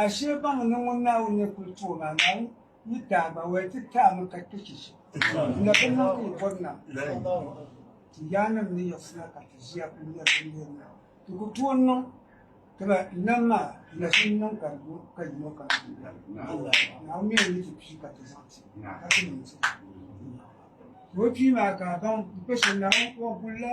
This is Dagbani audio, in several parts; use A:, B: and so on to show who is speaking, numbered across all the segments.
A: Ashee baŋ ni ŋun Naawuni ni kul ti o maa, Naawuni yi taai ba woli ti taai mi ka kpe chichi. N na bi niŋ ka yi bɔri na ti yaannim ni yiɣisina ka ti ʒiya kul nya binneen maa. Ti ku tooi niŋ ti ba nam maa lahiʒini niŋ ka di lu ka yino kam ti bɛ lala ni. Naawuni mi n-yi ti pii ka ti zaŋ ti ka ti niŋ ti ni. Ti o pii maa ka a baŋ n-kpe shɛm Naawuni kɔŋ gul la.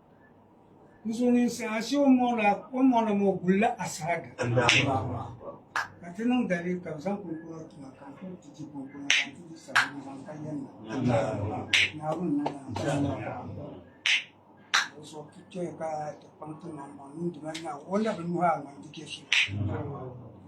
A: Musulminsi ashe o mɔɣila o mɔɣila maa o gulila asaada ka ti niŋ dalili ka bi zaŋ kunkuna tuma ka n kuli ti di kunkuna ka n ti di sabbu zaŋ ka yɛn na naawuni na o so ti kpɛ ka ti kpaŋ ti maŋ maŋ niŋdi ma naawuni o na bi nuhi a ŋan di kɛ so